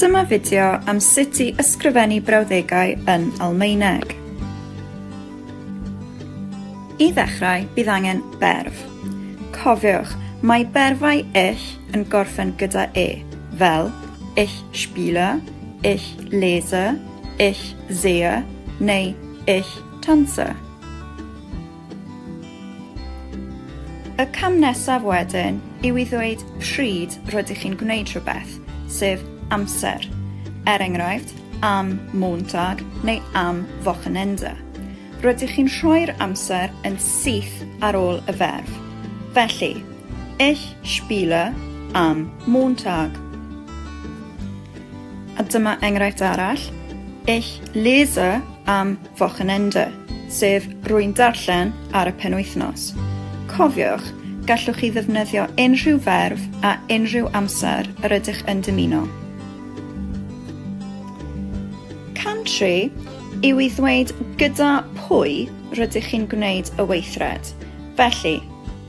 Dyma fideo am sut i ysgrifennu brawddegau yn Almaeneg. I ddechrau, bydd angen berf. Cofiwch, mae berfau ill yn gorffen gyda e, fel ich spiele, ich lese, ich sehe neu ich tanze. Y cam nesaf wedyn yw i ddweud pryd rydych chi'n gwneud rhywbeth, sef amser, er enghraifft, am Montag neu am Wochenende. Rydych chi'n rhoi'r amser yn syth ar ôl y ferf. Felly, Ich spiele am Montag. A dyma enghraifft arall, Ich lese am Wochenende, sef Rwy'n Darllen ar y penwythnos. Cofiwch, gallwch chi ddefnyddio unrhyw ferf a unrhyw amser yr ydych yn dymuno. Country yw i ddweud gyda pwy rydych chi'n gwneud y weithred, felly,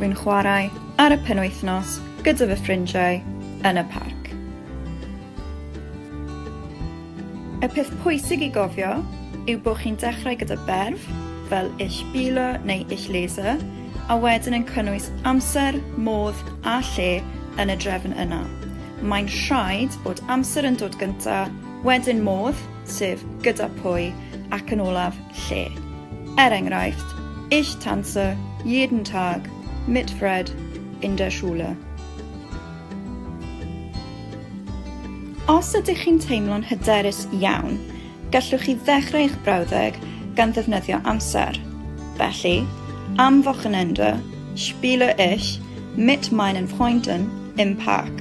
Wi'n chwarae ar y penwythnos gyda fy ffrindiau yn y parc. Y peth pwysig i gofio yw bod chi'n dechrau gyda berf, fel ish bilo neu ish laser, a wedyn yn cynnwys amser, modd a lle yn y drefn yna. Mae'n rhaid bod amser yn dod gynta, wedyn modd, sef gyda pwy ac yn olaf lle. Er enghraifft, Ich tanze jeden Tag mit Fred in der Schule. Os ydych chi'n teimlo'n hyderus iawn, gallwch chi ddechrau eich brawddeg gan ddefnyddio amser. Felly, am Wochenende, Spiele ich mit meinen Freunden im Park.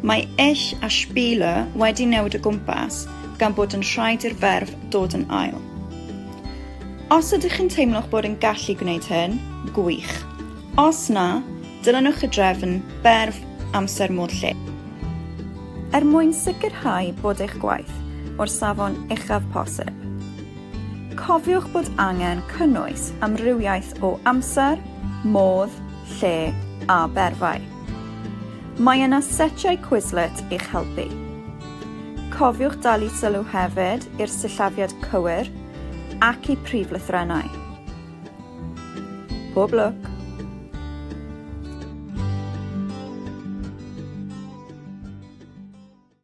Mae ich a spiele wedi newid o gwmpas gan bod yn rhaid i'r ferf dod yn ail. Os ydych chi'n teimlo'ch bod yn gallu gwneud hyn, gwych. Os na, dilynwch y drefn berf amser modd lle. Er mwyn sicrhau bod eich gwaith o'r safon uchaf posib. Cofiwch bod angen cynnwys amrywiaeth o amser, modd, lle a berfau. Mae yna setiau Quizlet i'ch helpu. Cofiwch dalu sylw hefyd i'r sillafiad cywir ac i prif lythrennau. Pob lwc!